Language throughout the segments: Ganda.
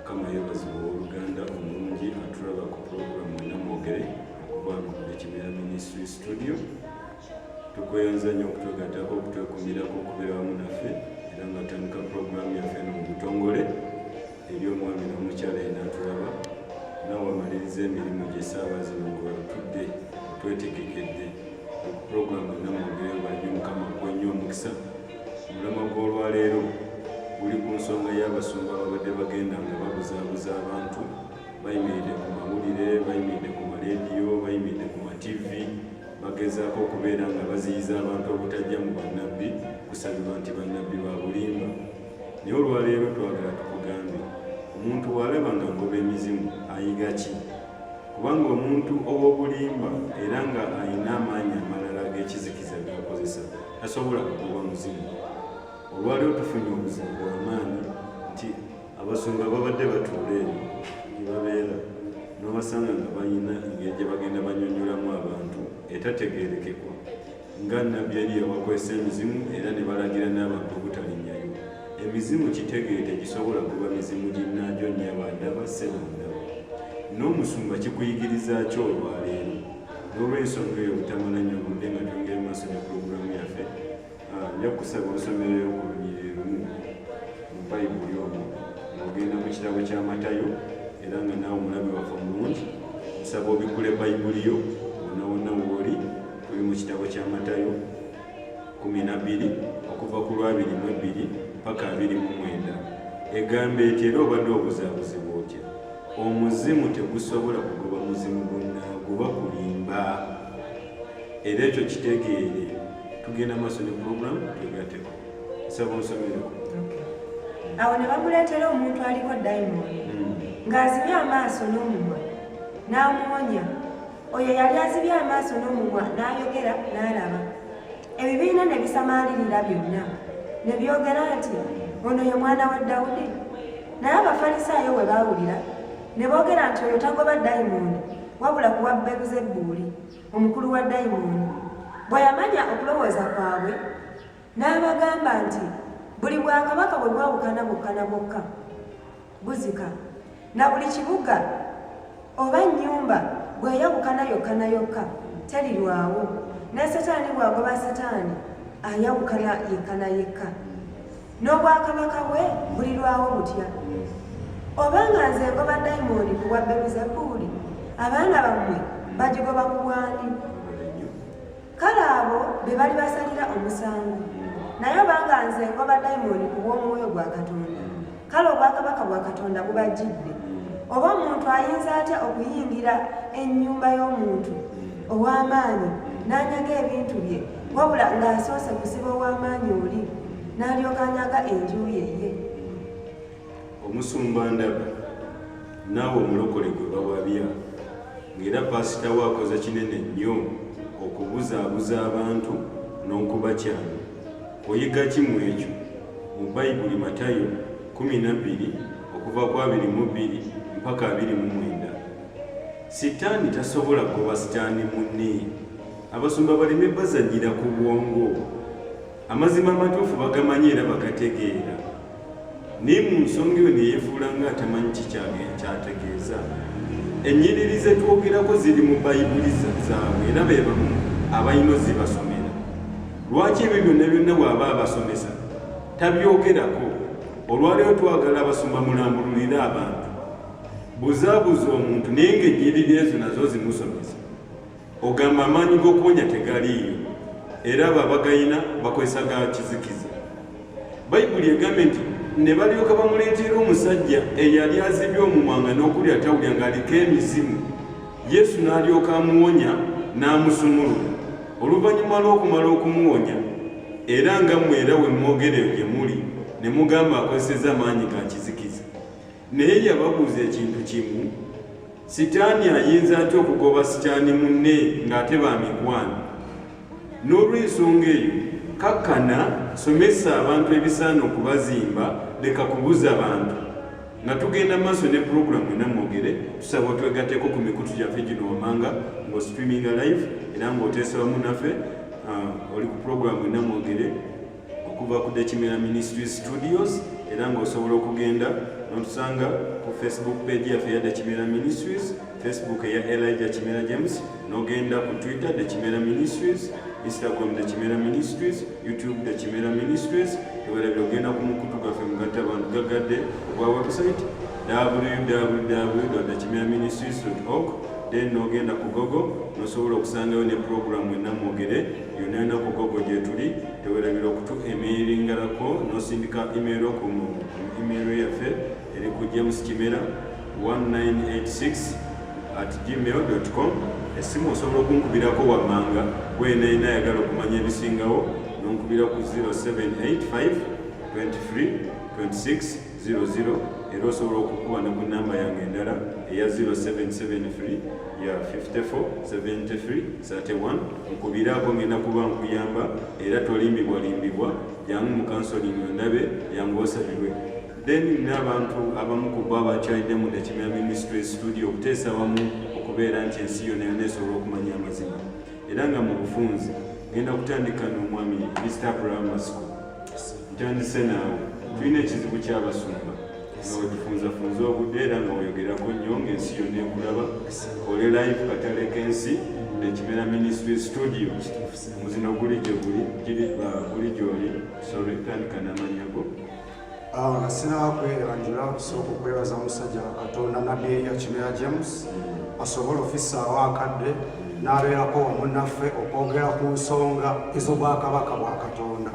mukama yebazibwa oluganda omulungi atulaba ku pulogulamu enamwogere okuba nokuli kimera ministry studio tukweyanza nnyo okutwegatako okutwekumirako okubeera wamu naffe era nga tandika pulogulamu yaffe no mu butongole eri omwami n'omukyala enatulaba nawe amaliriza emirimu gye saawa zino ngwebatudde twetegekedde okupulogulamu enamwogere banyo mukama kwenyo omukisa omulamwa gw'olwaleero guli ku nsonga y'abasumba babadde bagenda nga babuzaabuza abantu bayimiridde ku mawulire bayimiridde ku maleediyo bayimiridde ku mativi bagezaako okubeera nga baziyiza abantu obutajja mu bannabbi kusabirwa nti bannabbi ba bulimba naye olwaleero twagala tukugambe omuntu walaba nga ngoba emizimu ayiga ki kubanga omuntu ow'obulimba era nga alina amaanyi amalala g'ekizikiza g'akozesa tasobola kugoba muzimu olwaliwo tufunye omuzimu gwamaanyi nti abasumba babadde batuula eno gyebabeera nobasanga nga balina engeri gye bagenda banyonyolamu abantu etategerekekwa nga nabbi yali yabakozesa emizimu era ne balagira n'abantu obutalinyayo emizimu kitegeere tegisobola kuba mizimu ginnajo nyabandaba sebandaba n'omusumba kikuyigiriza ki olwaleero olw'ensonga eyo obutamala nnyo budde nga twongere maaso ne pulogulaamu yaffe ah, nja kusaba osomereyo ku lunyiriri lumu mu bayibuli omu ng'ogenda mu kitabo kya matayo era nga naawe omulabi waffe omulungi nsaba obikkule bayibuli yo wonna wonna wooli tuli mu kitabo kya matayo kumi na bbiri okuva ku lwabiri mu ebbiri paka abiri mu mwenda egamba eti era obadde obuzabuzibwa otya omuzimu tegusobola kugoba muzimu gunaagoba kulimba era ekyo kitegeere tugenda maaso ne puroguramu twegateko nsaba onsomereko awo ne bamuleetera omuntu aliko dayimooni hmm. ng'azibye amaaso n'omumwa n'amuwonya oyo yali azibye amaaso n'omumwa n'ayogera n'alaba ebibiina ne bisamaalirira byonna ne byogera nti ono ye mwana wa dawudi Naye Abafalisaayo bwe baawulira ne boogera nti oyo tagoba dayimooni wabula kuwa Beruzebbuuli omukulu wa dayimooni. Bwe yamanya okulowooza kwabwe n'abagamba nti buli bwakabaka bwe bwawukana bwokka na bwokka buzika, na buli kibuga oba nnyumba bw'eyawukana yokka na yokka terirwawo, ne Setaani bw'agoba Setaani ayawukana yekka na yekka. n'obwakabaka bwe bulirwawo butya oba nga nze ngoba dayimondi ku bwa beruzebuuli abaana bammwe bagigoba ku bwandi kale abo be bali basalira omusango naye oba nga nze ngoba dayimondi ku bw'omwoyo gwa katonda kale obwakabaka bwa katonda bubajjidde oba omuntu ayinza atya okuyingira ennyumba y'omuntu ow'amaanyi n'anyaga ebintu bye wabula ng'asoose kusiba ow'amaanyi oli n'alyoka anyaga enju ye ye omusumba ndaba naawe omulokole gwe bawabya ng'era paasita we akoze kinene nnyo okubuzaabuza abantu n'okubakyana oyiga ki mu ekyo mu bayibuli matayo 12 okuva ku 22 mpaka 29 sitaani tasobola kuba sitaani munne abasumba baleme bazanyira ku bwongo Amazima amatuufu bagamanyi era bagategeera, naye mu nsonga eyo neyefuula nga atamanyi kikyage kyategeeza. Ennyiriri ze twogerako ziri mu bayibuli zaabwe era be bamu abalina ozibasomera. Lwaki ebyo byonna byonna bw'aba abasomesa tabyogerako? Olwaleero twagala abasumba mulambululire abantu. Buzaabuza omuntu naye ng'ennyiriri ezo nazo zimusomesa. Ogamba amaanyi g'okuwonya tegaliiyo era abo abagayina bakozesa ga kizikiza. Bayibuli egambe nti ne balyoka bamuleetera omusajja eyali azibye omumwanga n'okuli atawulya ng'aliko emizimu yesu n'alyoka amuwonya n'amusumulula oluvannyuma lw'okumala okumuwonya era nga mmwe era we mwogereyo gye muli ne mugamba akozesezza maanyi ga kizikiza Naye yababuuza ekintu kimu, Sitaani ayinza atya okugoba sitaani munne ng'ate ba mikwano? N'olw'ensonga eyo, kakkana, somesa abantu ebisaana okubazimba, leka kubuza bantu. Nga tugenda mu maaso ne pulogulaamu ena mwogere, tusaba otwegatteko ku mikutu gyaffe gino wammanga ng'ostreaminga live era ng'oteesa wamu naffe. Ah, oli ku pulogulaamu ena mwogere. okuva ku dekimera ministries studios era ng'osobola okugenda notusanga ku facebook page yaffe eya dekimera ministries facebook eya elija kimera james nogenda ku twitter dekimera ministries instagram dekimera ministries youtube dekimera ministries ewera byogenda ku mukutu gaffe mugatta abantu gagadde ogwa website www.kimeraministries.org then nogenda ku gogo nosobola okusangayo ne programu enamwogere yonna enaku gogo gyetuli tewerabira okutu emeiringalako nosindika imeero ku imeero yaffe eri ku james kimera 1986 at gmail com esimu osobola okunkubirako wammanga gwenayina ayagala okumanya ebisingawo nonkubira ku 0785 23 26 00 era osobola okukuba ne ku namba yange endala eya 0773 ya 547331 nkubiraako ngenda kuba nkuyamba era tolimbibwalimbibwa jangu mu kansoling ondabe yangu osabirwe then n'abantu abamu ku bo abakyalidde mu dakimera ministry studio okuteesa wamu okubeera nti ensi yona yona esobola okumanya amazima era nga mu bufunzi ngenda kutandika n'omwami mr primary school ntandise naawe tulina ekizibu ky'abasumba nga wetufunzafunza obudde era nga weyogerako nnyo ng'ensi yonna ekulaba ole live katale k'ensi nekimera ministry studio muzino guli gyeguli giri uh, guli gyoli sorry tandika namanyago awo nga sinaba kweyanjula kusooka okwebaza musajja wa katonda nabbi eya kimera james asobola ofisaawo akadde n'abeerako omunnaffe okwogera ku nsonga ez'obwakabaka bwa katonda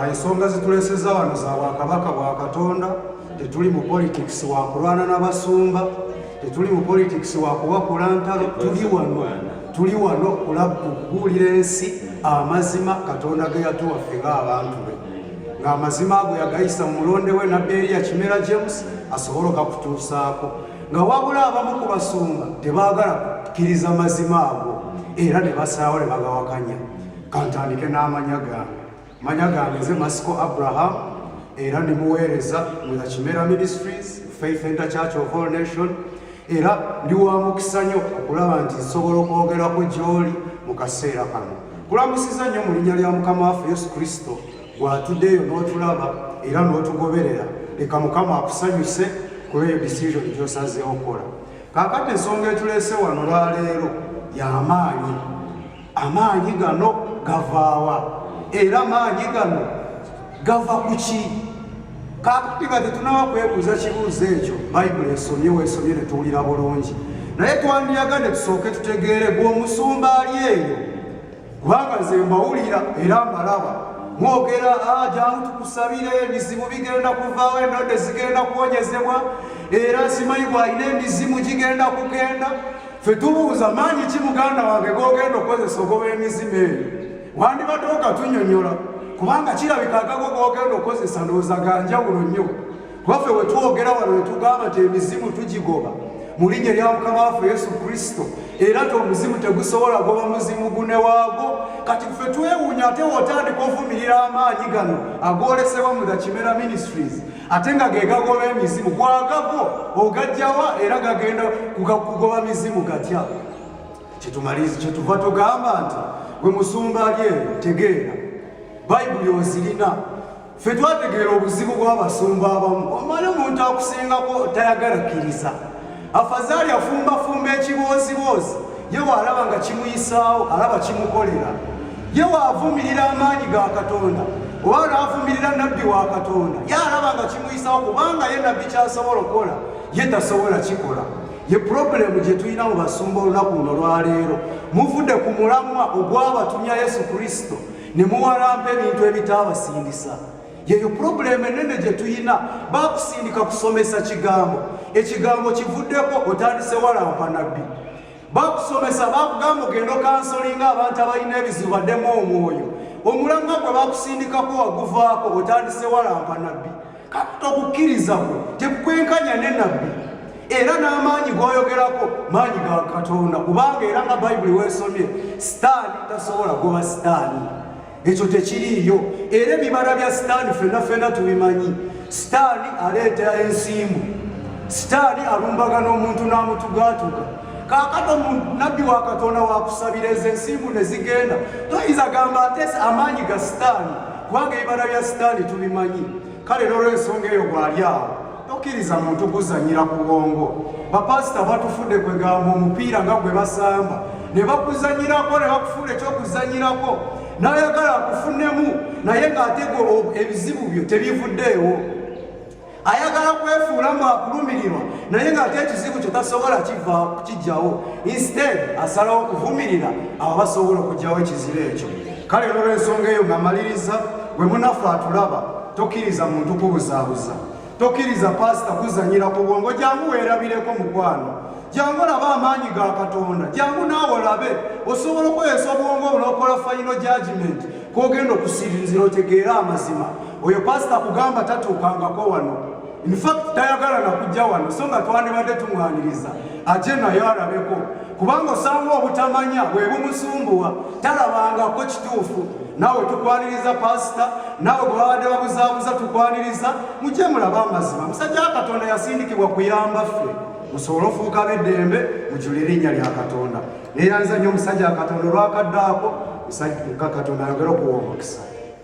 ensonga zituleseza wano za bwakabaka bwa katonda tetuli mu politics wa kulwana n'abasumba tetuli mu politics wa kubakula ntalo tuli wano tuli wano kulabbuulira ensi amazima katonda ge yatuwaffe ng'abantu be ng'amazima ago yagayisa mu mulonde we nabbi eriya kimera james asobole okakutuusaako nga wabula abamu ku basumba tebaagala kukkiriza mazima ago era ne basaawo ne bagawakanya kantandike n'amanya gange manya gange nze masiko abraham era ne muweereza mu the kimera ministries faith enter church of all nation era ndi wa mukisa nnyo okulaba nti nsobola okwogerako gy'oli mu kaseera kano kulamusiza nnyo mu linnya lya mukama waffe yesu kristo gwatuddeeyo n'otulaba era n'otugoberera leka mukama akusanyuse kuba eyo decision gyosazeewo okukola kakati ensonga etuleese wano lwaleero yamaanyi amaanyi gano gavaawa era amaanyi gano gava ku ki kakati nga tetunaba kwebuuza kibuuzo ekyo bayibuli esomye wesomye ne tuwulira bulungi naye twandiyagadde tusooke tutegeere gweomusumba ali eyo kubanga ze mbawulira era mbalaba mwogera ah, jangu tukusabire ebizibu bigenda kuvaawo endodde zigenda kuwonyezebwa era simanyi bwalina emizimu gigenda kugenda ffe tubuuza maanyi ki muganda wange gogenda okukozesa ogoba emizima eyo wandibadde okatunyonyola kubanga kirabika agago gogenda okukozesa ndowooza ganjawulo nnyo kubaffe wetwogera wano wetugamba nti emizimu tugigoba mu linnya lya mukama waffe yesu kristo era ti omuzimu tegusobola goba muzimu gune waago kati ffe twewuunya ate wotandika ovumirira amaanyi gano agolesebwa mu the kimera ministries ate nga ge gagoba emizimu gwagago ogajjawa era gagenda kugoba mizimu gatya kyetumaliriza kyetuva tugamba nti gwe musumba ali eyo tegeera bayibuli ozirina fe twategeera obuzibu bw'abasumba abamu omala omuntu akusingako tayagala kkiriza afazaali afumbafumba ekibooziboozi ye waalaba nga kimuyisaawo alaba kimukolera ye waavumirira amaanyi ga katonda oba laavumirira nabbi wa katonda ye alaba nga kimuyisaawo kubanga ye nabbi kyasobola okukola ye tasobola kikola ye purobulemu gye tulina mu basumba olunaku luno lwaleero muvudde ku mulamwa ogwabatumya yesu kristo ne muwalampa ebintu ebitaabasindisa yeyo purobulemu enene gye tuyina bakusindika kusomesa kigambo ekigambo kivuddeko otandise walampa nabbi bakusomesa bakugamba ogenda okansolinga abantu abalina ebizibu baddemu omwoyo omulanga gwe bakusindikako waguvaako otandise walampa nabbi kakita okukkiriza kwe tekukwenkanya ne nabbi era n'amaanyi g'oyogerako maanyi ga katonda kubanga era nga bayibuli weesomye sitaani tasobola goba sitaani ekyo tekiriiyo era ebibala bya sitaani fena fena tubimanyi sitaani aleeta ensimbu sitaani alumbagana omuntu n'amutugatuka kakati omunabbi wa katonda wakusabira ezo ensimbu ne zigenda toyinza gamba atese amaanyi ga sitaani kubanga ebibala bya sitaani tubimanyi kale nolwensonga eyo bwali awo Tokkiriza muntu kuzanyira ku bwongo. Bapasita batufudde kwe gamba omupiira nga gwe basamba ne bakuzanyirako ne bakufuula ekyokuzanyirako n'ayagala akufunemu naye ng'ate ebizibu byo tebivuddeewo. Ayagala kwefuula mu akulumirirwa naye ng'ate ekizibu kyo tasobola kiva kijjawo. Instead asalawo kuvumirira abo basobola okugyawo ekizibu ekyo. Kale olw'ensonga eyo nga maliriza, gwe munaffe atulaba, tokkiriza muntu kubuzaabuza. tokkiriza paasita kuzanyira ku bwongo jangu weerabireko mukwano jangu olabe amaanyi ga katonda jangu naawe olabe osobola okukozesa obwongo obunokola fayino jajimenti kogenda okusirinzira otegeera amazima oyo paasita kugamba tatuukangako wano infact tayagala nakujja wano so nga twandibadde tumwaniriza aje naye alabeko kubanga osanga obutamanya bwebumusumbuwa talabangako kituufu naawe tukwaniriza paasita naawe bwe babadde babuzaabuza tukwaniriza mujje mulaba amazima musajja wa katonda yasindikibwa kuyamba ffe musobole ofuuka beddembe mujula erinnya lya katonda neeyanza nnyo omusajja wa katonda olwakaddaako musajja katonda ayogera okuwa omukisa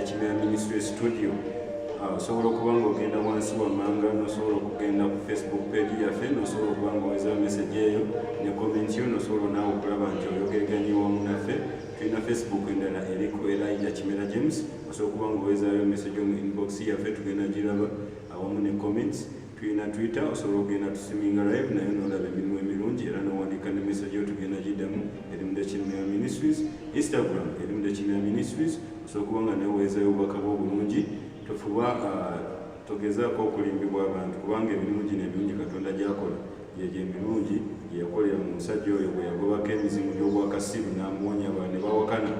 ekimera ministry studio ah, osobola okuba nga ogenda wansi wammanga nosobola okugenda ku facebook page yaffe nosobola okuba nga oweza message eyo ne comment yo nosobola naawe okulaba nti oyogerganye wamu naffe tulina facebook endala eriku elija kimera james osobola okuba nga owezayo message omu inbox yaffe tugenda giraba awamu ne comments Tuyina twitter osobola okugenda tusiminga live naye nolaba emirimu emirungi era nowandika ne message yo tugenda gidamu eri mu dekinmea ministries instagram eri mu dekinmea ministries osobola okuba nga neweezayo obubaka bwo obulungi tofuba ah, togezaako okulimbibwa abantu kubanga emirimu gino emirungi katonda gyakola gyegyo emirungi gyeyakolera mu musajja oyo bwe yagobako emizimu gy'obwakasiru n'amuwonya ba ne bawakana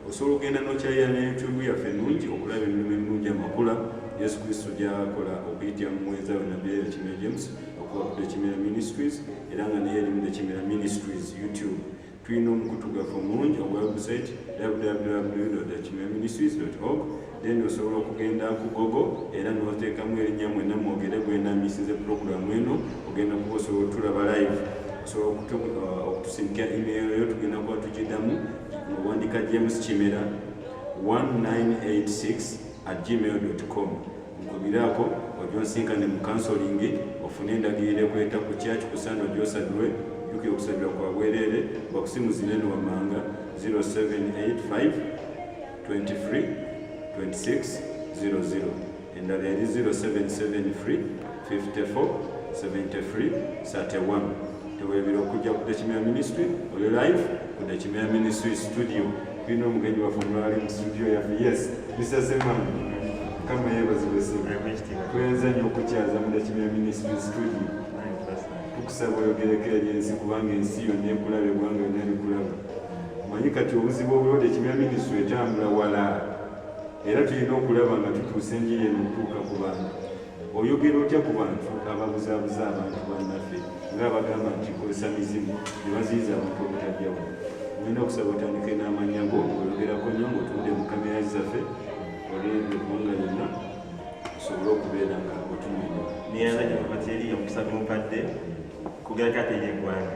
osobola okugenda nokyalira ne youtube yaffe ennungi okulaba emirimu ennungi amakula yesu kristo gyakola okuyitira mu muwenza we nabbi era kimera james okuva ku tekimera ministries era nga naye erimu tekimera ministries youtube tulina omukutu gwaffe omulungi ogwa website www tekimera ministries org then osobola okugenda ku gogo era noteekamu erinnya mwena mwogere gwenamisize puroguramu eno ogenda kuba osobola otulaba live osobola uh, okutusindikira email yo tugenda kuba tugidamu owandika james kimera 1986 at gmail com nkubiraako ojonsinkane mu kansolingi ofune endagiriro ekweta ku kyaki kusaana ojosadulwe jukira okusabira kwa bwereere bakusimuzineno wamanga 0785 23 26 00 endala eri 077 free 54 73 31 tewebera okujja ku dekimera ministry oli live ku dekimera ministry studio tulina omugenyi waffe omulali mu studio yaffe yes mr seman kama yebazibesinatwenza nyo okukyaza mu dekimera ministry studio tukusaba oyogereko eri ensi kubanga ensi yonna ekulaba egwanga yonna likulaba omanyi kati obuzibu obuliwo tekibira minisitule etambula wala era tulina okulaba nga tutuusa enjiri eno okutuuka ku bantu oyogera otya ku bantu ababuzabuza abantu bannaffe nga abagamba nti kozesa mizimu ne baziyiza abantu obutajjawo nina okusaba otandike n'amanya go oyogerako nyo ngaotunde mu kamera zaffe olwegwanga yonna osobole okubeera nga otumanya neyana gyababateri omusatu mukadde kugerako ate yeggwanga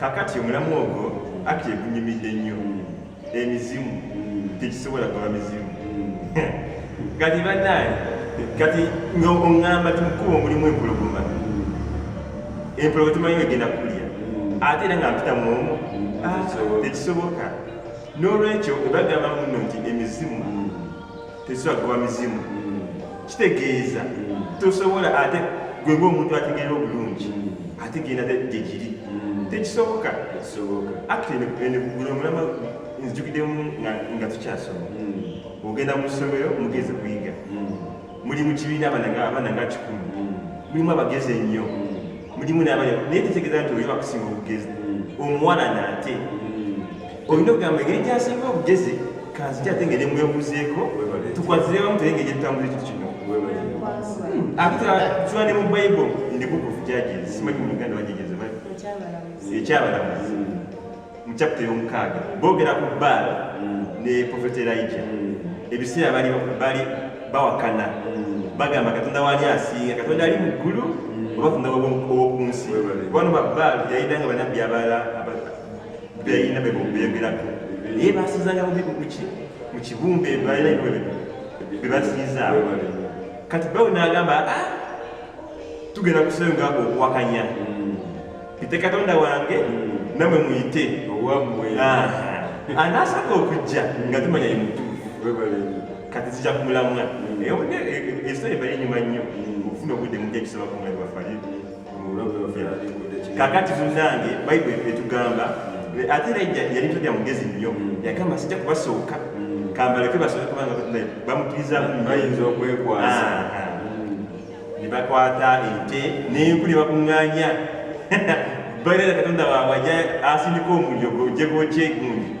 kakati omulamu ogwo akti egunyumidde nnyo emizimu tekisobola kuba mizimu kati banaye kati nga oŋamba ti mukuba omulimu empologoma empologoma timanyi egenda kulya ate era nga mpita mwomu ah, tekisoboka n'olwekyo ebagamba muno nti emizimu tezibagoba mizimu kitegeeza tosobola ate gwe ngaomuntu ategeera obulungi ate genda gyegiri tekisoboka aktenegulamulama nzijukidemu nga tukyasoma ogenda mu ssomero mugezi kuyiga muli mu kibiina abaana nga kikulu mulimu abagezi ennyo mulimu naye tetegeeza nti oyo akusinga obugezi omuwala naate olina okugamba engeri gyasinga obugezi kanziti ate ngeri mwebuzeeko tukwatire wamu teye ngeri etambula ekyo kino akitula ne mu bible ndi book of judges simanyi mu uganda bajegeze ekyabalamuzi mu chapita ey'omukaaga boogera ku baala ne profeta elija ebiseera bali bali bawakana bagamba katonda wali asinga katonda ali mu ggulu oba katonda wowokunsi kubano babaali yayidanga banabbi abalala beyina bebyogerako naye basizanga muki mukibumba ebalina bebasizaawo kati bawe nagamba ah, tugenda kusayonga okuwakanya mm. ite katonda wange mm. namwe muyite anasaka okujja nga tumanya ye mutuufu kati zija kumulamwa mm. ekiseera ebali enyuma nnyo okufuna obudde mujja kisaba kumulabi waffe kakati munange bayibuli etugamba ate era yali tolya mugezi nnyo mm. yagamba sijja kubasooka mm. kambaleke basobe kubanga bamukiriza bayinza okwekwasa ah, ah. Mm. ne bakwata ente nenku ne bakuŋŋaanya bairera katonda waabwe aja asindika omuliro gojegokyegundi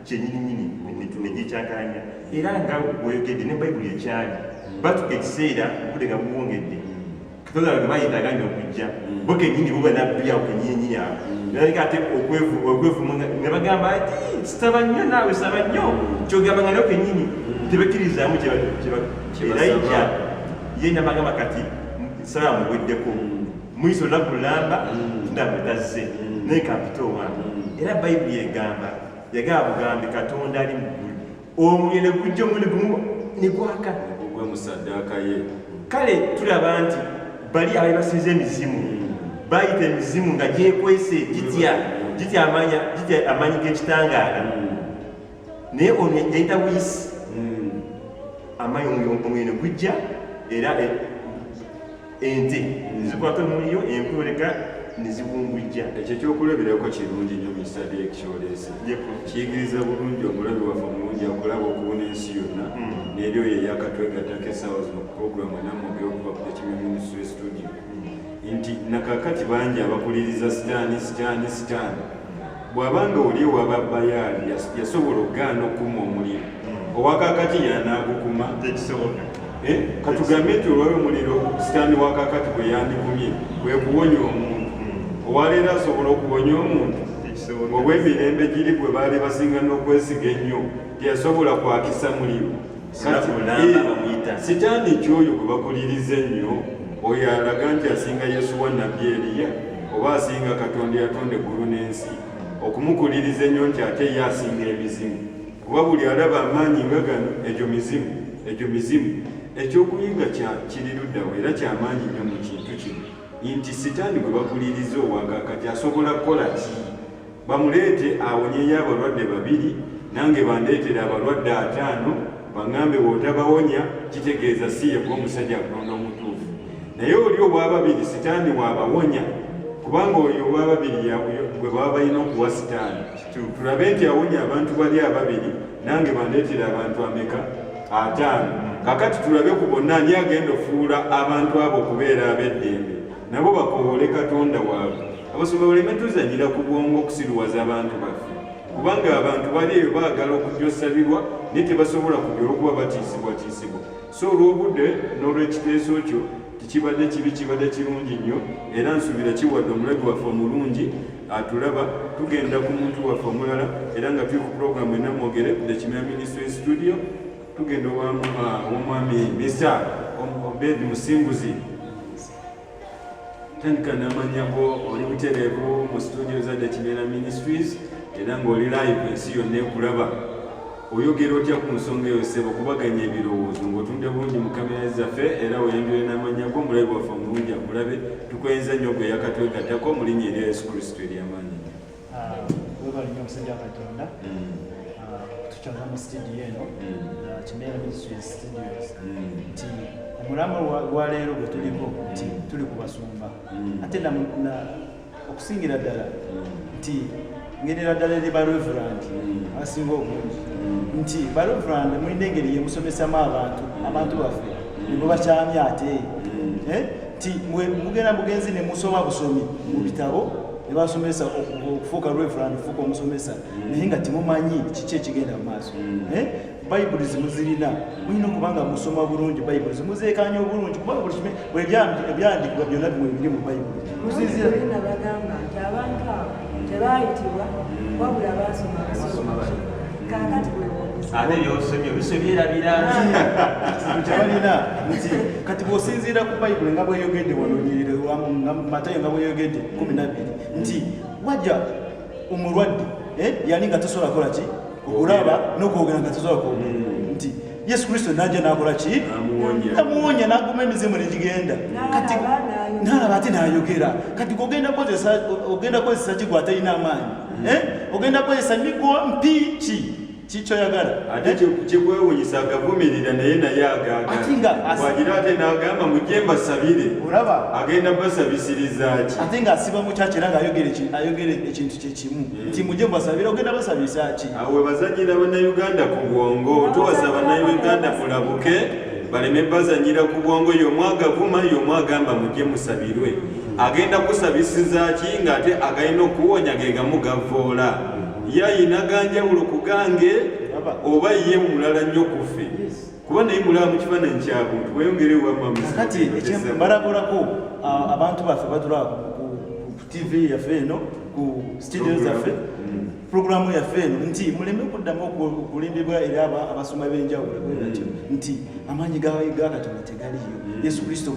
kyenyininyini negyekyaganya era nga oyogedde ne bayibuli ekyali batuka ekiseera obudde nga buwongedde katonda bange bayetaaga nyo okujja bo kenyini bo banabbi awo kenyininyini awo naleka ate okwevuma ne bagamba ti saba nnyo naawe saba nnyo kyogamba nga nyo kenyini tebekkirizamu kyeraija ye nabagamba kati nsaba muweddeko muyiso olunaku lulamba mm. tundamutazze mm. naye kampita owange mm. era bayibuli egamba yagamba bugambi katonda ali mu ggulu omuliro ne gujja omuli gumu ne gwaka ne gugwa mu saddaaka ye kale tulaba nti bali abali basinza emizimu bayita emizimu nga gyekwese gitya gitya amaanyi g'ekitangaala naye ono yayita buyisi amaanyi omuliro ne gujja era eh, ente zikwata omuliro enkwoleka neziwungujja ekyo ekyokulabirako kirungi nyo misade ekikyolese kiyigiriza bulungi omulabi waffe omulungi akulaba okubona ensi yonna hmm. neri oyo eyakatwegatako esaawa zino ku programu enamwogera okuva ku ekimya ministry studio hmm. nti nakakati bangi abakuliriza sitaani sitaani sitaani Bw'aba ng'oli ewa ba Baali yasobola okugaana okukuma omuliro, hmm. owa kaakati y'anaagukuma? Tekisoboka. Eh, katugambe nti olwali omuliro sitaani wa kaakati gwe yandikumye kwe kuwonya omuntu, hmm. olwaleero asobola okuwonya omuntu? Obw'emirembe giri gwe baali basinga n'okwesiga ennyo teyasobola kwakisa muliro. sitaani kyoyo gwe bakuliriza ennyo oyo alaga nti asinga yesuwa nabbi eriya oba asinga katonda yatonda eggulu n'ensi okumukuliriza ennyo nti ate ye asinga emizimu kuba buli alaba amaanyi nga gano egyo mizimu egyo mizimu ekyokuyiga kiriruddawo era kyamaanyi nnyo mu kintu kino nti sitaani gwe bakuliriza owagakati asobola kukola ki bamuleete awonyeyo abalwadde babiri nange bandeetera abalwadde ataano baŋambe wotabawonya kitegeeza si yekuba omusajja akulonda omutuufu naye oli owababiri sitaani wabawonya kubanga oyo owababiri gwe baba balina okuwa sitaani tulabe nti awonya abantu bali ababiri nange bandeetera abantu ameka ataano kakati tulabe ku bonna ani agenda ofuula abantu abo okubeera ab'eddembe nabo bakowoole katonda waabwe abasumba baleme tuzanyira ku bwongo okusiruwaza abantu baffe kubanga abantu bali eyo baagala okujosabirwa naye tebasobola kujja olwokuba batiisibwatiisibwa so olw'obudde n'olw'ekiteeso kyo tekibadde kibi kibadde kirungi nnyo era nsuubira kiwadde omulabi waffe omulungi atulaba tugenda ku muntu waffe omulala era nga tuli ku pulogulaamu enamwogere the kimera ministry studio tugenda owamwami misa obed musinguzi tandika namanya go oli butereevu mu situdio za dakimera ministries era ng'oli live ensi yonna ekulaba oyogera otya ku nsonga eyo sebo kubaganya ebirowoozo ng'otunde bulungi mu kamera zaffe era oyanjule n'amanya go omulabi waffe omulungi akulabe tukwenza nnyo gwe yakatwegattako mu linnya erya yesu kristo ery'amaanyi webale nyo omusajja katonda tukyona mu studio eno kimera ministries studios nti omulama gwaleero gwe tuliko nti tuli ku basumba ate okusingira ddala nti ngerera ddala eri bareverand abasinga obungi nti bareverand mulina engeri yemusomesamu abantu abantu baffe nibo bakyamya ate nti mugenda mugenzi nemusoma busomi mu bitabo ne basomesa okufuuka reverand okufuuka omusomesa naye nga temumanyi kiki ekigenda mu maaso mm. eh? bayibuli zimuzirina mulina okubanga musoma bulungi bayibuli zimuzeekanya obulungi kubanga buli kime ebyandikibwa byonna bimwe biri mu bayibuli muzizirina bagamba nti abantu abo tebaayitibwa wabula baasoma basoma ate byosomye obiso byerabira kyebalina nti kati bwosinziira ku bayibuli nga bweyogedde wanonyerere matayo nga bweyogedde kumi nabiri nti wajja omulwadde eh, yali nga tosobola kola ki okulaba nokwogera nga tosobola kwogera hmm. nti yesu kristo najja nakola ki namuwonya naguma emizimu negigenda kati nalaba ate nayogera kati ogenda kozesa ki gwatalina amaanyi hmm. eh? ogenda kozesa migwa mpiki kikyoyagala ate eh? kyekwewunyisa agavumirira naye naye agagaagira ate nagamba mujje mbasabire olaba agenda basabisirizaki ate ngaasiba mukyakera ngaayogera ekintu kyekimu nti muje basabira ogenda basabisa ki awo webazanyira bannayuganda ku bwongo tuwasa bannayuganda mulabuke baleme bazanyira ku bwongo yomu agavuma yomu agamba muje musabirwe agenda kusabisiza ki ngaate agalina okuwonya gegamu gavoola yayina ganjawulo ku gange oba ye mulala nnyo kufe kuba naye mulaba mu kifaananyi kyabuntu weyongerewo wamamkati ekyembalagulako abantu baffe batulaba TV yaffe eno ku studio zaffe mm. programu yaffe eno nti muleme kuddamu okulimbibwa era abasoma b'enjawulo bwenatyo mm. nti amaanyi gakatonda tegaliyo mm. yesu kristo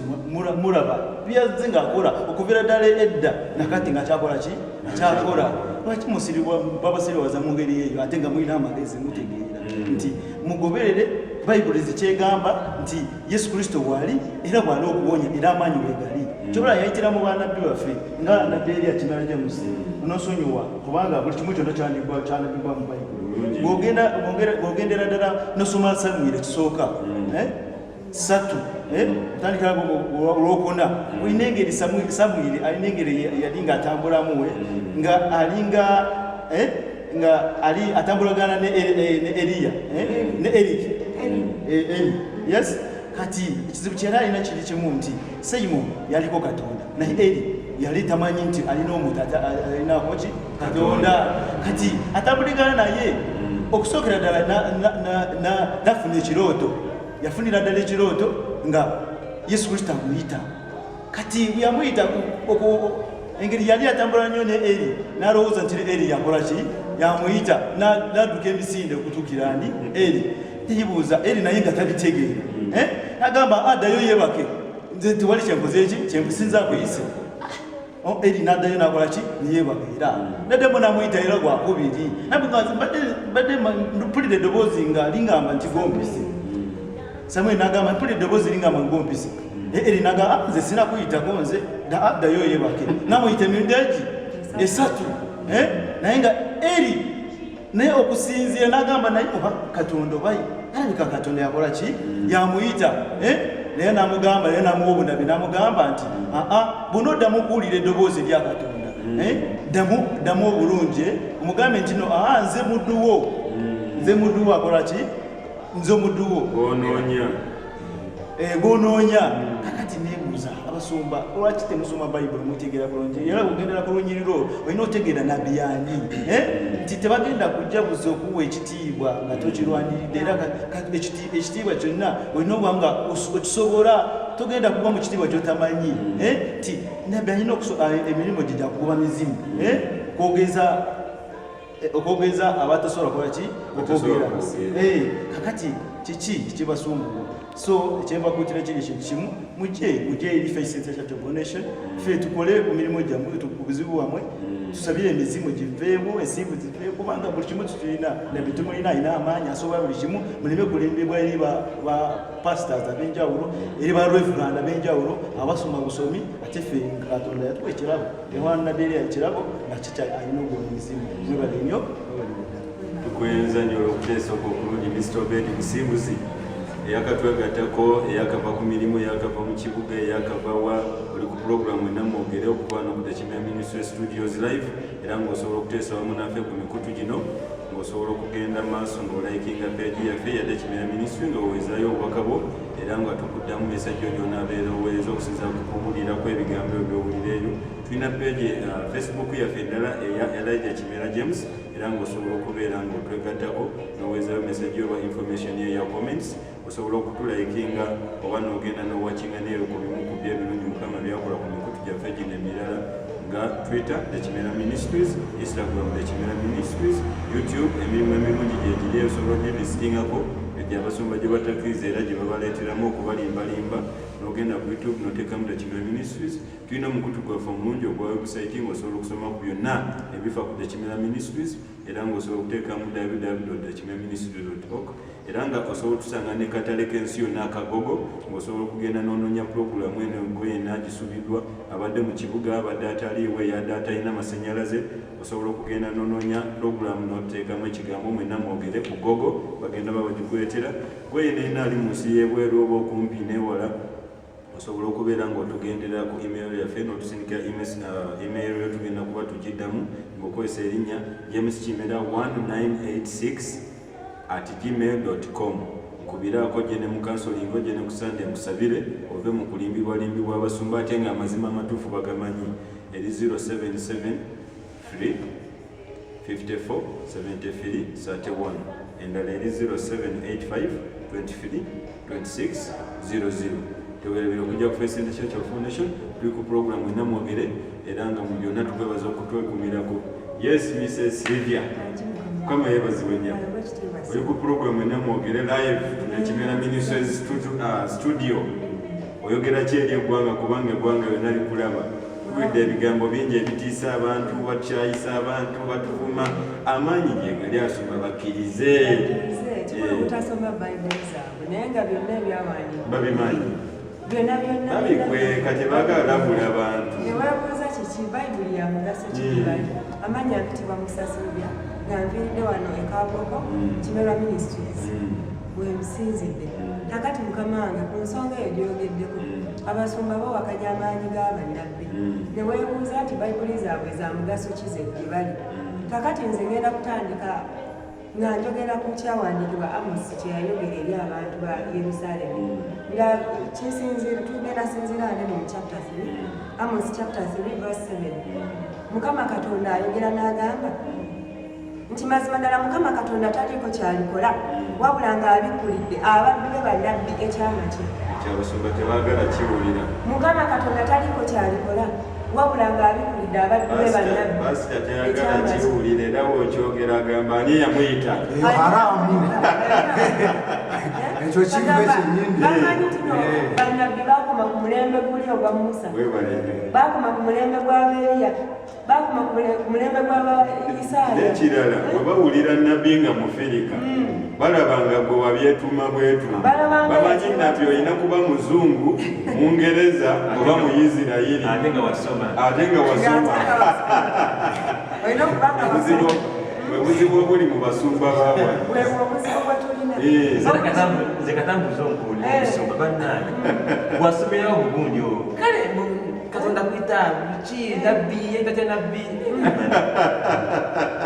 muraba byazze ng'akola okuvira ddala edda nakati nga kyakola ki akyakola lwaki musiribwa babasiriwaza mu ngeri eyo ate nga mulina amagezi mutegeera nti mugoberere bayibuli zikyegamba nti yesu kristo waali era bwali okuwonya era amaanyi wegali mm. kyobola yayitira mu banabbi baffe nga nabbi eri akimala jamusi mm. nosonyiwa kubanga buli kimu kyonna kyanabbibwa mu bayibuli bwogendera ddala nosoma samwiri ekisooka mm. eh? satu eh? otandikira olwokuna olina engeri samwiri alina engeri yali nga atambulamu eh? nga alinga nga ali atambulagana ne Eliya eh? ne Eli eh, yes kati ekizibu kyeyali alina kiri kimu nti Simon yaliko Katonda naye Eli yali tamanyi nti alina omuntu alinakoki katonda kati atambuligana naye okusookera ddala nafuna ekirooto yafunira ddala ekirooto nga yesu kristo amuyita kati yamuyita engeri yali atambula nnyo ne eri nalowooza nti eri yakola ki yamuyita nadduka emisinde okutuukira ani eri teyibuuza eri naye nga tabitegeera hmm. eh? nagamba addayo ah, yebake nze tewali kyenkoze eki kyenkusinza kuyise oh, eri naddayo nakola ki neyebaka era hmm. naddemu namuyita era gwakubiri mbadde mpulira eddoboozi nga lingamba nti gombise Samuel nagamba mpule eddoboozi linga mu ngompisa eh, eri nagamba ah, nze sina kuyitako nze addayo ah, yebake namuyita emirundi egi esatu eh, naye nga eri naye okusinziira nagamba naye oba katonda obayi alabika katonda yakola ki mm. yamuyita eh, naye namugamba naye namuwa obunabi namugamba nti aa ah, buno oddamu okuwulira eddoboozi erya katonda mm. ddamu ddamu obulungi omugambe nti no aa nze mudduwo mm. nze mudduwo akola ki nze omuduwo gwonoonya eh, gwonoonya kakati nebuuza abasumba lwaki temusoma bayibuli mutegeera bulungi era kugendera ku lunyiriro olina otegeera nabbi yani eh? nti tebagenda kujja buza okuwa ekitiibwa nga tokirwaniridde era ekitiibwa kyonna olina okuba nga okisobola togenda kuba mu kitiibwa kyotamanyi eh? nti nabbi alina ah, emirimu gye gyakugoba mizimu kwogeza eh, okwogeza abatasobola kukola ki okwogera eh, kakati kiki kibasumbuwa so ekyembakutira kiri ekintu kimu muje muje eri faceationation fe tukole ku mirimu gyammwe ku buzibu bwammwe mm. tusabire emizimu giveemu ensimbu ziveemu kubanga buli kimu kitulina nabitumulina alina amaanyi asobola buli kimu muleme kulembebwa eri ba pastors ab'enjawulo eri ba reverand ab'enjawulo abasoma busomi ate fe katonda yatuwa ekirabo tewanaderi ekirabo nga kitali alina ogwo muzimu mwebale nnyo tukwenza nnyo olwokuteesa okwo okulungi mr obedi musimbuzi eyakatwegattako eyakava ku mirimu eyakava mu kibuga eyakava wa oli ku pulogulaamu enamu ogere okukwana okutakimya ministry studios live era ng'osobola okuteesa wamu naffe ku mikutu gino ng'osobola okugenda maaso ng'olayikinga peegi yaffe yadde kimya ministry nga wewezayo obubaka bwo era nga tukuddamu mesajja oyonabeera oweereza okusinza kukubuulira ku ebigambo ebyo byowulira ebyo tulina peegi uh, facebook yaffe eddala eya elija kimera james era ngaosobola okubeera nga otwegattako noweezayo mesajja oba information ye ya comments osobola okutulayikinga oba nogenda nowakinga neeyo ku bimu ku byo ebirungi mukama byakola ku mikutu gyaffe gino emirala nga twitter ekimera ministries instagram ekimera ministries youtube emirimu emirungi gyegiri ebisobola gyebisitingako egyo abasumba gye batakiriza era gye babaleeteramu okubalimbalimba nogenda ku youtube notekamu the kimera ministries tulina omukutu gwaffe omulungi ogwa webusayiti ngaosobola okusoma ku byonna ebifa ku the kimera ministries era ngaosobola okuteekamu www the kimera ministries org era nga osobola otusanga ne katale k'ensi yonna akagogo ng'osobola okugenda n'onoonya pulogulaamu eno engoyena gisubiddwa abadde mu kibuga abadde ataliiwe yadde atalina masannyalaze osobola okugenda n'onoonya pulogulaamu n'oteekamu ekigambo mwena mwogere ku gogo bagenda ba bagikuleetera goyena ena ali mu nsi y'ebweru oba okumpi n'ewala osobola okubeera ng'otugendera ku email yaffe n'otusindika uh, email yo tugenda kuba tugiddamu ng'okozesa erinnya james kimera 1986 at gmail.com nkubiraako gye ne mukansolingo gye ne kusande nkusabire ove mu kulimbibwalimbibwa abasumba ate nga amazima amatuufu bagamanyi eri 0773547331 endala eri 078523 2600 tewerabira okujja ku First International Foundation tuli ku programu enamwogere era nga mu byonna tukwebaza okutwekumirako yes Mrs. Sylvia kama yebazibwe nnyo oli ku programu enamwogere live na Kimera Ministries uh, studio oyogera ki eri eggwanga kubanga eggwanga yonna likulaba tuwulidde ebigambo bingi ebitiisa abantu bakyayisa abantu batuvuma amaanyi gyegali asoma bakkirize babimanyi babikweka tebagala labula abantu amaanyi akitibwa musasilubya nga nviridde wano ekaboko mm. kimera ministries mm. wemusinzidde kakati mukama wange ku nsonga eyo gyoyogeddeko mm. abasumba bawakanya amaanyi g'abannabbi hmm. ne weebuuza nti bayibuli zaabwe za mugaso ki ze gye bali hmm. kakati nze ngenda kutandika nga njogera ku kyawandiikibwa amosi kye yayogera eri abantu ba yerusaalemi hmm. nga kisinziira tugenda sinziira ane mu chapter 3 amosi chapter 3 verse 7 mukama katonda ayogera n'agamba nti mazima ddala mukama katonda taliiko kyalikola wabula ng'abikkulidde abaddu be bannabbi ekyama kye kyabasumba tebagala kiwulira mukama katonda taliiko kyalikola wabula ng'abikkulidde abaddu be bannabbi pasita teyagala kiwulira era bwokyogera agamba ani eyamuyita haramu ekyo kive kyenyinibamanyi tino eh. bannabbi bakoma ku mulembe guli ogwa musa bakoma ku mulembe gwa beeriya bakuma ku mulembe gwa Isaaya. N'ekirala bwe bawulira nnabbi nga Mufirika hmm. balaba nga gwe wabyetuma bwetuma, bamanyi nti olina kuba muzungu Mungereza oba Muyisirayiri ate nga wasoma obuzibu bwe buzibu obuli mu basumba bawa nze katambuza onkuli omusumba bannange wasomerawo bulungi olwo kale katonda kuyita ki nabbi ye nga tya nabbi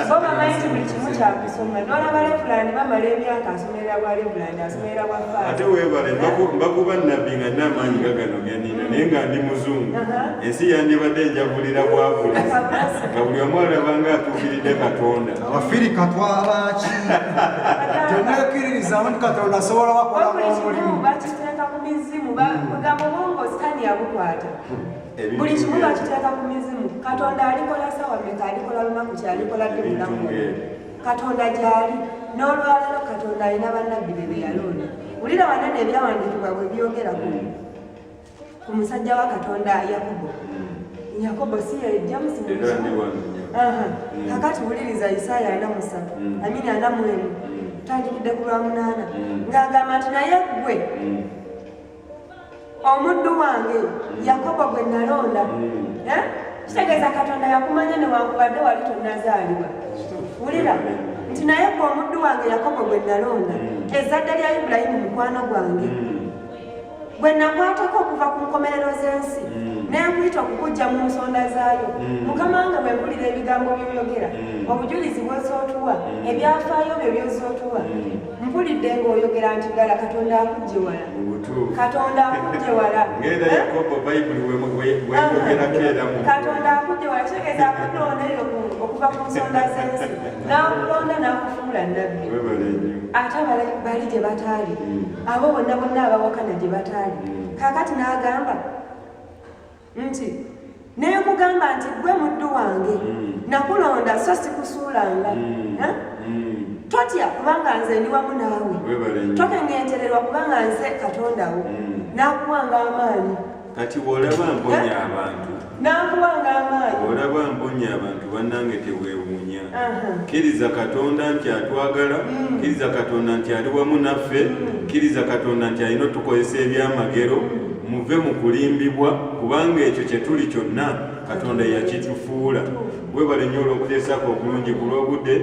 so bamanyi nti buli kimu kyakusoma nolaba levulandi bamala emyaka asomerera bwa levulandi asomerera bwa faate webale mbakuba nabbi nga nina amaanyi nga gano ganina naye nga ndi muzungu uh-huh. ensi yandibadde enjavulira bwavula nga buli omu alabanga atuukiridde katonda abafiri katwalaki temwekiririzamu nti katonda asobola bakola omulimu mizimu bagamba obwongo sitani yabukwata buli kimu bakiteeka ku mizimu katonda alikola sawa meka alikola lunaku kyalikola dde mulamu katonda gyali n'olwalero katonda alina bannabbi be beyalonda wulira wanene ebyawandiikibwa bwe byogera ku musajja wa katonda yakubu Yakobo si yajjamu si era ndi wano mm. kakati wuliriza Isaaya ana musatu mm. amini ana mu emu mm. tandikidde ku lwa munaana ng'agamba nti naye ggwe omuddu wange Yakobo gwe nalonda eh? kitegeeza Katonda yakumanya newankubadde wali tonnazaalibwa wulira nti naye ggwe omuddu wange Yakobo gwe nalonda ezzadde lya Ibulayimu mukwano gwange gwe nakwatako okuva ku nkomerero z'ensi mm. nenkuyita okukujja mu nsonda zaayo mm. mukama nga bwempulira ebigambo byoyogera mm. obujulizi bwozootuwa ebyafaayo byo byozootuwa mpulidde ngaoyogera nti ddala katonda akujje wala katonda akujje wala katonda akujje wala kitegeeza akulonda eyo okuva ku nsonda z'ensi n'akulonda n'akufuula nabbi ate bali gye bataali abo bonna bonna abawakana gye bataali hmm. kaakati n'agamba nti naye nkugamba nti gwe muddu wange hmm. nakulonda so sikusuulanga hmm. totya kubanga nze ndi wamu naawe tokengentererwa kubanga nze katondawo n'akuwanga amaanyi kati bwolaba mponya abantu nakuwanga amaanyi olaba mponya abantu bannange tewewuunya kkiriza katonda nti atwagala mm. kkiriza katonda nti ali wamu naffe mm. kkiriza katonda nti alina otukozesa ebyamagero mm. muve mu kulimbibwa kubanga ekyo kye tuli kyonna katonda yakitufuula webale nnyo olw'okuteesaako okulungi ku lw'obudde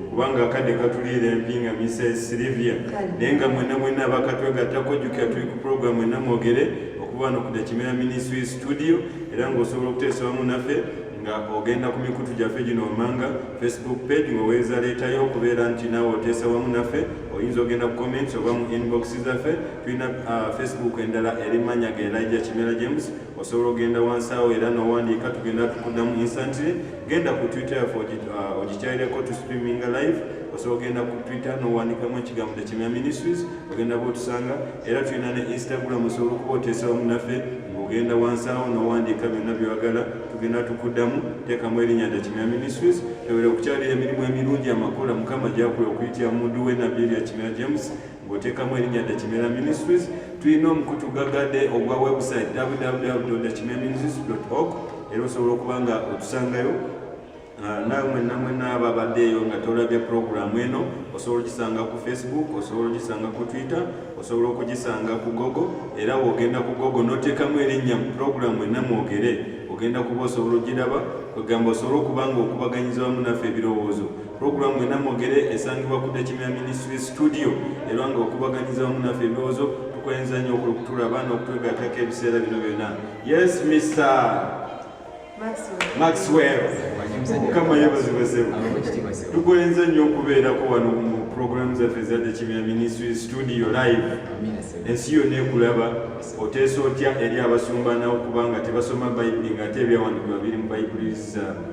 kubanga akadde katuliira empi nga misa esirivia naye nga mwena mwena abakatwegattako jjukira tuli ku pulogulaamu enamwogere okuba no ku Kimera Ministry Studio era ng'osobola okuteesa wamu naffe nga ogenda ku mikutu gyaffe gino wammanga facebook page ng'oweereza leetayo okubeera nti naawe oteesa wamu naffe oyinza ogenda ku comments oba mu inbox zaffe tulina uh, facebook endala eri manya ga elija kimera james osobola ogenda wansi awo era nowandiika tugenda tukuddamu instantly genda ku twitter yaffe uh, ogikyalireko tu streaminga live osobola ogenda ku twitter nowandiikamu ekigambo tekimera ministries ogenda bwotusanga era tulina ne instagram osobola okuba oteesawo munaffe ng'ogenda wansi awo n'owandiika byonna byewagala tugenda tukuddamu teekamu erinnya dakimya ministries tewera okukyalira emirimu emirungi amakola mukama gyakuwa okuyitira mu mundu we nabbi erya kimera james ng'oteekamu erinnya dakimera ministries tulina omukutu gagade ogwa website www dakimera ministries org era osobola okuba nga otusangayo Ah, nawe mwenna mwenna ababaddeeyo nga tolabye puroguramu eno osobola ogisanga ku facebook osobola ogisanga ku twitter osobola okugisanga ku gogo era wogenda ku gogo notekamu erinnya mu puroguramu enna mwogere ogenda kuba osobola ogiraba kwegamba osobola okuba nga okubaganyiza wamu naffe ebirowoozo puroguramu enna mwogere esangibwa ku dekimya ministry studio era nga okubaganyiza wamu naffe ebirowoozo tukwenza nnyo okulukutula abaana okutwegatako ebiseera bino byonna yes mister maxwell mukama yebazibwe sebo tukwenze nnyo okubeerako wano mu program zaffe ezadde kimya ministry studio live ensi yonna ekulaba oteesa otya eri abasumba nawo kubanga tebasoma bayibuli ngaate ebyawandikibwa biri mu bayibuli zaabwe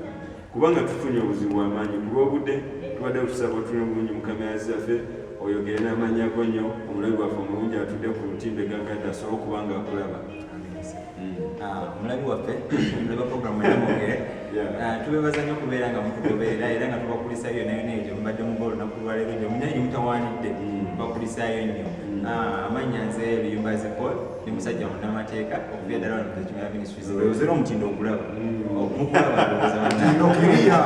kubanga tufunye obuzibu bwamaanyi ku lwobudde tubadde tusaba otuli obulungi mu kamera zaffe oyogere n'amannya go nnyo omulabi waffe omulungi atudde ku lutindo egagadde asobole okuba nga akulaba omulabi mm. ah, waffe mulaba programu eyamugere ah, tubebaza nyo okubeera nga mutugoberera era nga tubakulisayo nayona egyo mubadde muba olunaku lwaleero gyo munaye gyemutanwanidde mm. tubakulisayo nnyo mm. ah, amanya nze luyumba zipol ni musajja munamateeka okuva eddala wano kukimera ministries ozera omutindo okulaba mukulabaaokiriya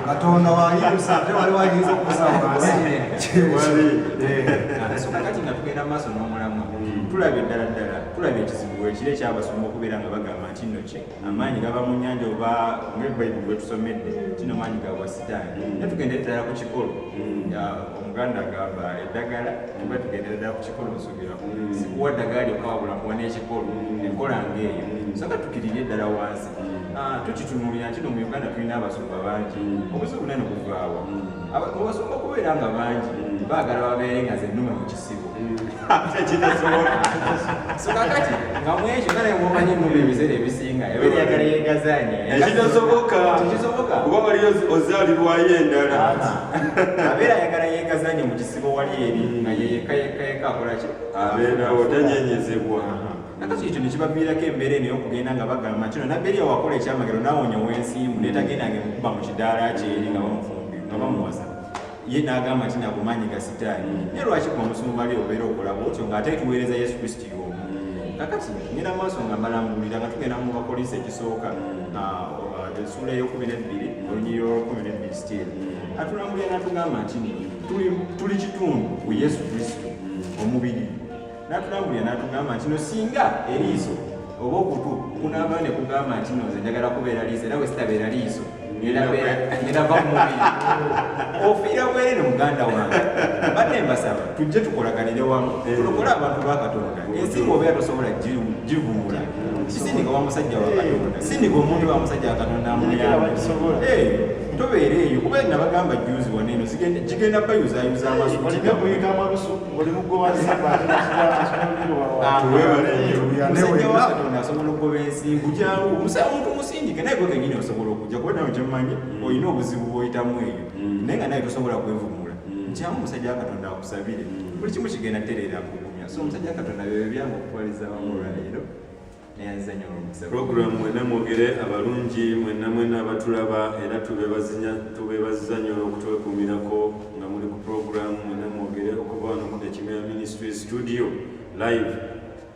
katonda wayinza ate wali wayinza okusa wansi kyewali eh. so kakati nga tugenda maaso n'omulamwa tulabye ddala ddala tulabye ekizibu ekiro ekyabasoma okubeera nga bagamba nti nno kye amaanyi gaba mu nyanja oba ngebayibuli wetusomedde kino maanyi gabwa sitaani mm. naye tugenda eddala ku kikolo mm. omuganda agamba eddagala tuba tugenda eddala ku kikolo nsubira mm. sikuwa ddagala lyokawabula kuwa n'ekikolo enkola ngaeyo soka tukirire eddala wansi ah, tukitunulira nti no mu uganda tulina abasumba bangi obuzibu nani buvaawa obasumba okubeera nga bangi baagala babeere nga zenuma mu kisa sokakati nga mwekyo kale mwomanyi mu ebiseera ebisinga ebeera yagala yegazanye ekitasoboka tekisoboka kuba wali ozaalirwayo endala abeera ayagala yegazanye mu kisibo wali eri nga yeyeka yeka yeka akolaki abeerawo tanyenyezebwa nakati ekyo nekibaviirako embeera eno yokugenda nga bagamba kino nabberia wakola ekyamagero nawonya wensiimu netagendanga mukuba mu kidaala kyeri nga bamufumbye nga bamuwasa ye n'agamba nti nago maanyi ga sitaani naye lwaki ku omusumba ali obeera okola bwotyo ng'ate tuweereza yesu kristo y'omu kakati ngenda maaso nga mbalambulira nga tugenda mu bapoliisi ekisooka esuula eyokumi nebbiri olunyiri olwokumi nebbiri stil atulambulira natugamba nti tuli kitundu ku yesu kristo omubiri n'atulabulira n'atugamba nti no singa eriiso oba okutu kunaaba ne kugamba nti no nze njagala kubeera liiso era wesitabeera liiso ngenava ku mubiri ofiira bwere ne muganda wange badde mbasaba tujje tukolaganire wamu tulokola abantu ba katonda ensi ngaobeera tosobola givuula kisindika wa musajja wa katonda sindika omuntu wa musajja wa katonda amuyamba tobeera eyo kuba nabagamba juzi waneeno gigenda bayuzayuza amaso asobola okugoba ensi nkukyawo omusala muntu musindike naye gwe kenyini osobola okujja kuba nawe kyemumanyi mm. olina obuzibu bwoyitamu eyo mm. naye nga naye tosobola kwevumula mm. nkyamu omusajja wakatonda akusabire buli kimu kigenda tereera kugumya so omusajja wakatonda byebyo byange okutwaliza wamu olwaleero pulogulaamu mwena mwogere abalungi mwena mwena abatulaba era tubebaziza nyo olwokutwekuumirako nga muli ku pulogulaamu mwena mwogere okuva wano ku ekimera ministry studio live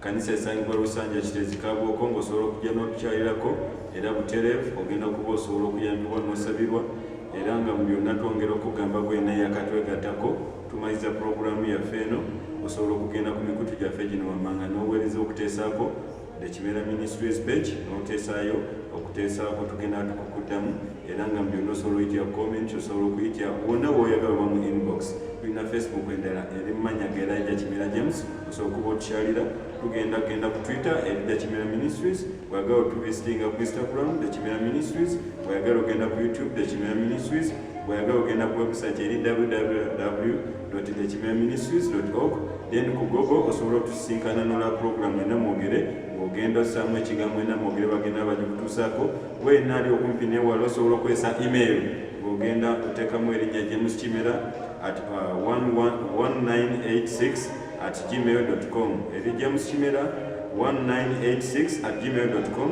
kanisa esangibwa lusanja kitezi kabwoko ngaosobola okujja notukyalirako era buterevu ogenda okuba osobola okuyambibwa nosabirwa era nga mu byonna twongera okugamba gwena yakatwegatako tumaliza pulogulaamu yaffe eno osobola okugenda ku mikutu gyaffe gino wammanga n'oweereza okuteesaako the kimera ministries page n'oteesaayo okuteesaako tugenda tukukuddamu era nga mubyonna osobola oyitya comment osobola okuyitya wonna woyagala oba mu inbox tulina facebook endala eri mumanya geraija kimera james osobola okuba otukyalira tugenda kugenda ku twitter eri the kimera ministries wagala otuvisitinga ku instagram the kimera ministries wayagala ogenda ku youtube the kimera ministries bweyagala ogenda ku website eri www ekimeministries.org then ku google osobola otusisinkana nola programu ena mwogere ng'ogenda osaamu ekigambo ena mwogere bagenda bagikutuusaako wena ali okumpi newala osobola okozesa email ng'ogenda oteekamu erinnya james kimera at 1986 uh, at gmail com eri james kimera 1986 at gmail com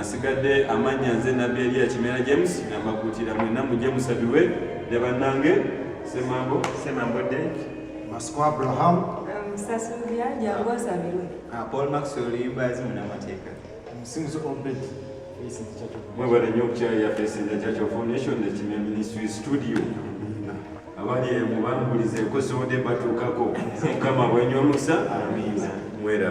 nsigadde amannya nze nabbi eriya kimera james nambakuutira mwena mujje musabirwe ne bannange semambo semambo de masiko abraham musasuubya jangu osabirwe ah, paul max oluyimba yazi munamateeka omusinguzi obed mwebale nnyo okukyaya fesinza church of nation nekimya ministry studio abali emubambulize nkosobodde batuukako mukama bwenywa omukisa mwera